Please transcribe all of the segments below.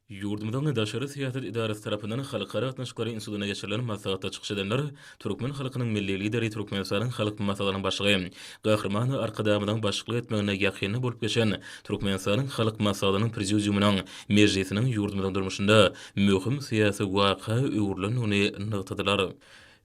Ýurdumyzyň Daşary syýasat edarasy tarapyndan Halkara gatnaşyklary institutynda geçirilen maslahatda çykyş edenler türkmen halkynyň Milli Lideri, Türkmenistanyň Halk Maslahatynyň Başlygy Gahryman Arkadagymyzyň başçylyk etmeginde ýakynda bolup geçen Türkmenistanyň Halk Maslahatynyň Prezidiumynyň mejlisiniň ýurdumyzyň durmuşynda möhüm syýasy waka öwrülendigini nygtadylar.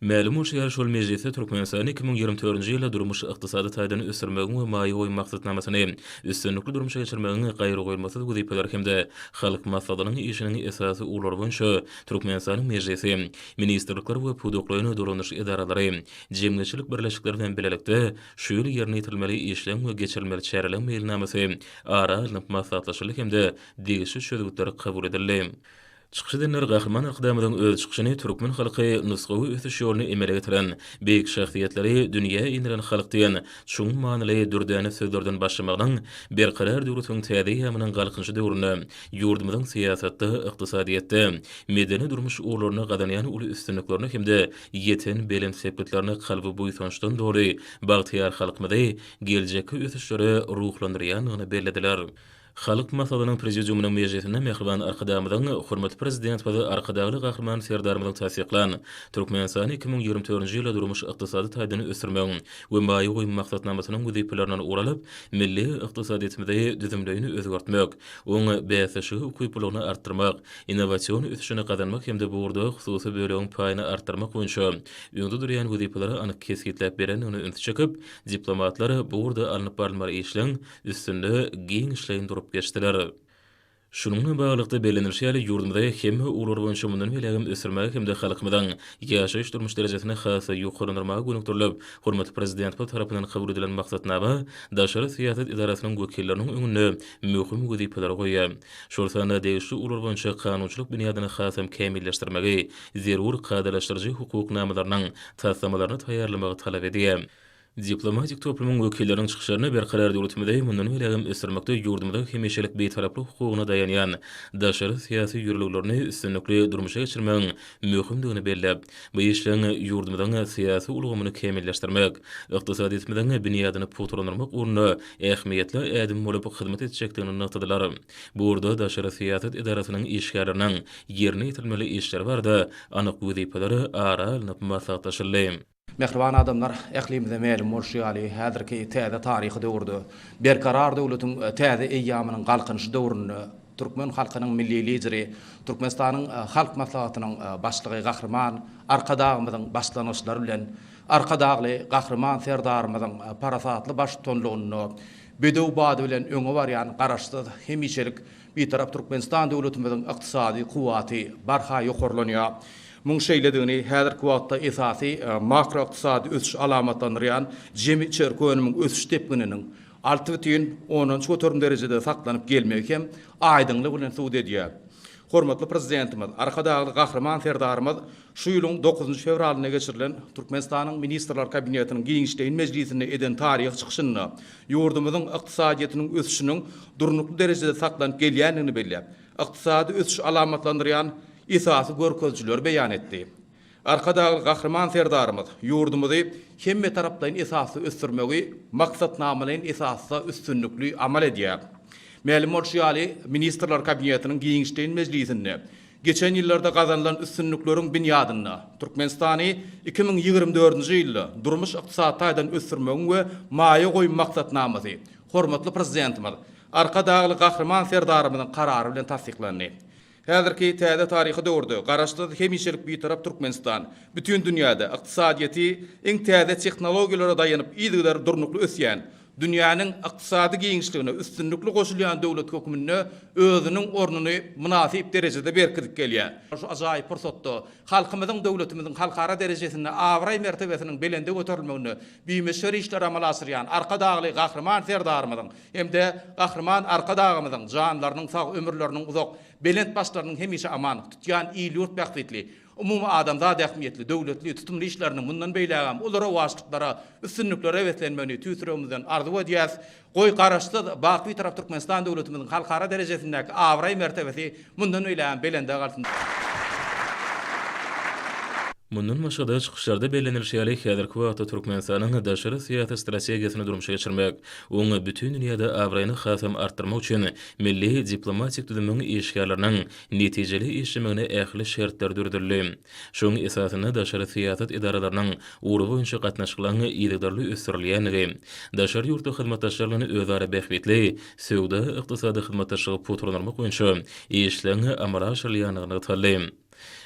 Mälim bolşy ýaly, şol mejlisde Türkmenistany iki müň ýigrimi dördünji ýylda durmuş-ykdysady taýdan ösdürmegiň we maýa goýum maksatnamasyny üstünlikli durmuşa geçirmegiň gaýragoýulmasyz wezipeleri hem-de Halk Maslahatynyň işiniň esasy ugurlary boýunça Türkmenistanyň Mejlisi, ministrlikler we pudaklaýyn dolandyryş edaralary, jemgyýetçilik birleşikleri bilen bilelikde şu ýyl ýerine ýetirilmeli işleň we geçirilmeli çäreleň meýilnamasy ara alnyp maslahatlaşyldy hem-de degişli çözgütler kabul edildi. Çykyş edenler Gahryman Arkadagymyzyň öz çykyşyny türkmen halky nusgawy ösüş ýoluny emele getiren, beýik şahsyýetleri dünýä inderen halk diýen çuň manyly dürdäne sözlerden başlamagynyň Berkarar döwletiň täze eýýamynyň Galkynyşy döwründe ýurdumyzyň syýasatda, ykdysadyýetde, medeni-durmuş ugurlarynda gazanýan uly üstünliklerine hem-de ýeten belent sepgitlerine kalby buýsançdan doly bagtyýar halkymyzy geljekki ösüşlere ruhlandyrýandygyny bellediler. Halk Maslahatynyň Prezidiumynyň mejlisinde mähriban Arkadagymyzyň, hormatly Prezidentimiz, Arkadagly Gahryman Serdarymyzyň tassyklan Türkmenistany iki müň ýigrimi dördünji ýyla durmuş-ykdysady taýdan ösdürmegiň we maýa goýum maksatnamasynyň wezipelerinden ugur alyp, milli ykdysadyýetimizi düzümleýin özgertmek, oň bäsdeşlige ukyplylygyny artdyrmak, innowasion ösüşini gazanmak hem-de bu ugurda hususy bölegiň paýyny artdyrmak boýunça öňde durýan wezipeleri anyk kesgitläp berendigine ünsi çekip, diplomatlar bu ugurda alnyp barylmaly işleň üstünde giňişleýin durup geçdiler. Şunuň bilen baglylykda bellenilişi ýaly, ýurdumyzy hemme ugurlar boýunça mundan beýlägem ösdürmäge hem-de halkymyzyň ýaşaýyş-durmuş derejesini has-da ýokarlandyrmaga gönükdirilip, hormatly Prezidentimiz tarapyndan kabul edilen maksatnama daşary syýasat edarasynyň wekilleriniň öňünde möhüm wezipeleri goýýar. Şol sanda degişli ugurlar boýunça kanunçylyk binýadyny hasam kämilleşdirmegi, zerur kadalaşdyryjy hukuk namalarynyň taslamalaryny taýýarlamagy talap edýär. Diplomatik toplumyň wekilleriniň çykyşlaryna Berkarar döwletimizi mundan beýlägem ösdürmekde ýurdumyzyň hemişelik Bitaraplyk hukugyna daýanýan daşary syýasy ýörelgelerini üstünlikli durmuşa geçirmegiň möhümdigini belläp, bu işleň ýurdumyzyň syýasy ulgamyny kämilleşdirmek, ykdysadyýetimiziň binýadyny pugtalandyrmak ugrunda ähmiýetli ädim bolup hyzmat etjekdigini nygtadylar. Bu ugurda daşary syýasat edarasynyň işgärleriniň ýerine ýetirilmeli işleri barada anyk wezipeler ara alnyp maslahatlaşyldy. Mähriban adamlar, ählimize mälim bolşy ýaly, häzirki täze taryhy döwürde, Berkarar döwletiň täze eýýamynyň Galkynyşy döwründe türkmen halkynyň Milli Lideri, Türkmenistanyň Halk Maslahatynyň Başlygy Gahryman Arkadagymyzyň başlangyçlary bilen Arkadagly Gahryman Serdarymyzyň parasatly baştutanlygynda bedew bady bilen öňe barýan Garaşsyz, hemişelik Bitarap Türkmenistan döwletimiziň ykdysady kuwwaty barha ýokarlanýar. Muň şeýledigini häzirki wagtda esasy makroykdysady ösüş alamatlandyrýan jemi içerki önümiň ösüş depgininiň alty bütin ondan göterim derejede saklanyp gelmegi hem aýdyňlygy bilen subut edýär. Hormatly Prezidentimiz, Arkadagly Gahryman Serdarymyz Şu ýylyň dokuzynjy fewralynda geçirilen Türkmenistanyň Ministrler Kabinetiniň giňişleýin mejlisinde eden taryhy çykyşynda ýurdumyzyň ykdysadyýetiniň ösüşiniň durnukly derejede saklanyp gelýändigini belläp, ykdysady ösüşi alamatlandyrýan esasy görkezijileri beýan etdi. Arkadagly Gahryman Serdarymyz ýurdumyzy hemmetaraplaýyn esasda ösdürmegi maksatnamalaýyn esasda üstünlikli amal edýär. Mälim bolşy ýaly, Ministrler Kabinetiniň giňişleýin mejlisinde Geçen ýyllarda gazanylan üstünlikleriň binýadynda, Türkmenistany iki müň ýigrimi dördünji ýylda durmuş-ykdysady taýdan ösdürmegiň we maýa goýum maksatnamasy hormatly Prezidentimiz Arkadagly Gahryman Serdarymyzyň Karary bilen tassyklandy. Häzirki täze taryhy döwürde Garaşsyz, hemişelik Bitarap Türkmenistan bütin dünýäde ykdysadyýeti iň täze tehnologiýalara daýanyp yzygider durnukly ösýän, dünýäniň ykdysady giňişligine üstünlikli goşulýan döwlet hökmünde özüniň ornuny mynasyp derejede berkidip gelýär. Şu ajaýyp pursatda halkymyzyň, döwletimiziň halkara derejesinde abraý-mertebesiniň belende göterilmeginde bimöçber işleri amala aşyrýan Arkadagly Gahryman Serdarymyzyň hem-de Gahryman Arkadagymyzyň janlarynyň sag, ömürleriniň uzak, belent başlarynyň hemişe aman, tutýan il-ýurt bähbitli, Umumy adamzat ähmiýetli, döwletli, tutumly işleriniň mundan beýlägem uly rowaçlyklara, üstünliklere beslenmegini tüýs ýüregimizden arzuw edýäs. Goý, Garaşsyz, bak Bitarap Türkmenistan döwletimiziň halkara derejesindäki abraý-mertebesi mundan beýlägem belende galsyn! Mundan başga-da, çykyşlarda bellenilişi ýaly, häzirki wagtda Türkmenistanyň daşary syýasy strategiýasyny durmuşa geçirmek, oňa bütin dünýäde abraýyny hasam artdyrmak üçin milli diplomatik düzümiň işgärleriniň netijeli işlemegine ähli şertler döredildi. Şonuň esasynda daşary syýasat edaralarynyň ugur boýunça gatnaşyklaryň yzygiderli ösdürilýändigi, daşary ýurtly hyzmatdaşlar bilen özara bähbitli söwda-ykdysady hyzmatdaşlygy pugtalandyrmak boýunça işleriň amala aşyrylýandygy nygtaldy.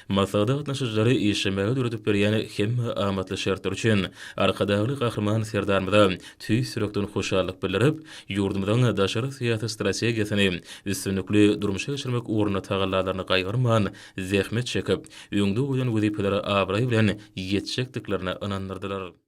Maslahata gatnaşyjylar işlemäge döredip berýän hemme amatly şertler üçin Arkadagly Gahryman Serdarymyza tüýs ýürekden hoşallyk bildirip, Ýurdumyzyň daşary syýasy strategiýasyny üstünlikli durmuşa geçirmek ugrunda tagallalaryny gaýgyrman zähmet çekip, öňde goýan wezipeleri abraý bilen ýetjekdiklerine ynandyrdylar.